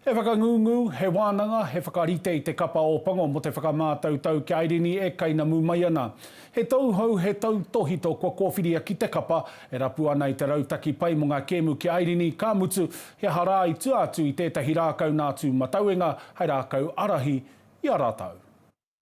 He whakangungu, he wānanga, he whakarite i te kapa Ōpango mō te whakamātautau kia airini e kainamu mai ana. He tauhou, he tautōhito kua kōwhiria ki te kapa, e rapu ana i te rautaki pai mō ngā kēmu ki airini, ka mutu, he aha rā i tua atu i tētahi rākau nā tūmatauenga hei rākau ārahi i a rātau.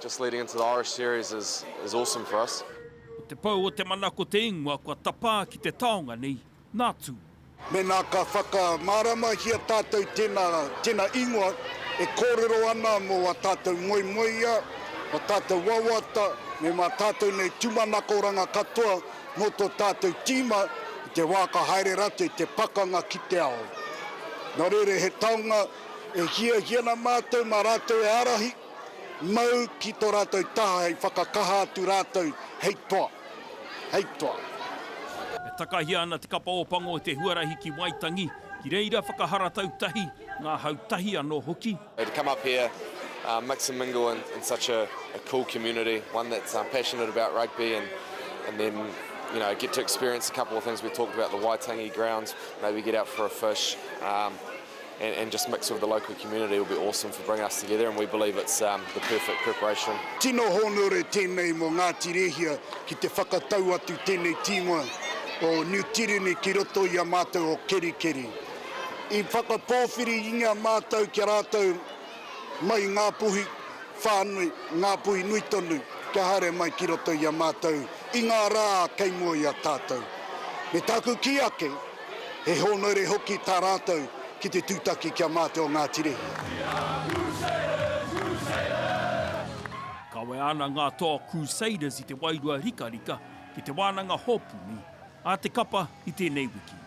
Just leading into the Irish series is is awesome for us. Ko te pou o te mana ko te ingoa kua tapā ki te taonga nei, nā Tū. Mēnā ka whakamāramahia tātou tēnā, tēnā ingoa e kōrero ana mō ā tātou moemoeā, ā tātou wawata, me mā tātou nei tūmanakoranga katoa mō tō tātou tīma i te wā ka haere rātou i te pakanga ki te ao. Nō reira he taonga e hiahia ana mātou mā rātou e ārahi. Mau ki tō rātou taha hei whakakaha atu rātou hei toa, hei toa. E takahia ana Te Kapa o Pango te huarahi ki Waitangi, ki reira whakaharatau tahi, ngā hau tahi anō hoki. To come up here, mix and mingle in such a cool community, one that's passionate about rugby and then you know get to experience a couple of things we talked about, the Waitangi grounds, maybe get out for a fish, and, and just mix with the local community will be awesome for bringing us together and we believe it's um, the perfect preparation. Tino hōnore tēnei mō Ngāti Rehia ki te whakatau atu tēnei tīngoa o New Tirini ki roto i a mātou o Kerikeri. I whakapōwhiri inga mātou ki a rātou mai ngā puhi whānui, ngā puhi nui tonu kia haere mai ki roto i a mātou i ngā rā kei mua i a tātou. Me tāku kī ake, He hōnaere hoki tā rātou ki te tūtaki ki a Māte o Ngā Tirihia. Kawea ana ngā toa Crusaders i te wairua rikarika ki te wānanga hōpuni a te kapa i tēnei wiki.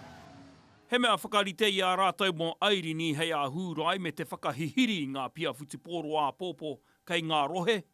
He mea whakarite i a rātou mō Airini hei āhūrai me te whakahihiri i ngā pia whutupōro āpōpō kei ngā rohe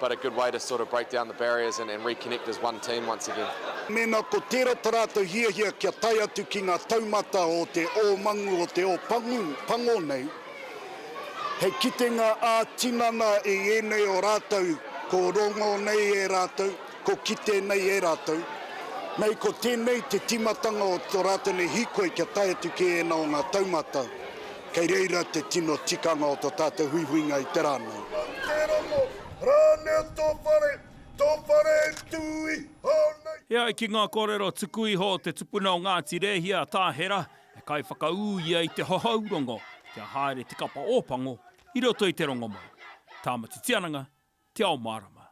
But a good way to sort of break down the barriers and and reconnect as one team once again. Mēnā ko tērā tā rātou hiahia kia tae atu ki ngā taumata o te ōmangu o te ōpangu pango nei, hei kitenga ā-tinana i ēnei o rātou ko rongo nei e rātou, ko kite nei e rātou. Nei ko tēnei te tīmatanga o tō rātou nei hīkoi kia tae atu ki ēnā o ngā taumata. Kei reira te tino tikanga o to tatou huihuinga i te ra nei. Kei te rongo ranea to whare, to whare e tu iho nei. E ai ki nga korero tuku iho o te tupuna o Ngati Rehia a Tahera, he kai whakaū ia i te hohou rongo kia haere te kapa Opango i roto i te rongomau. Tāmati Tiananga, Te Ao Marama.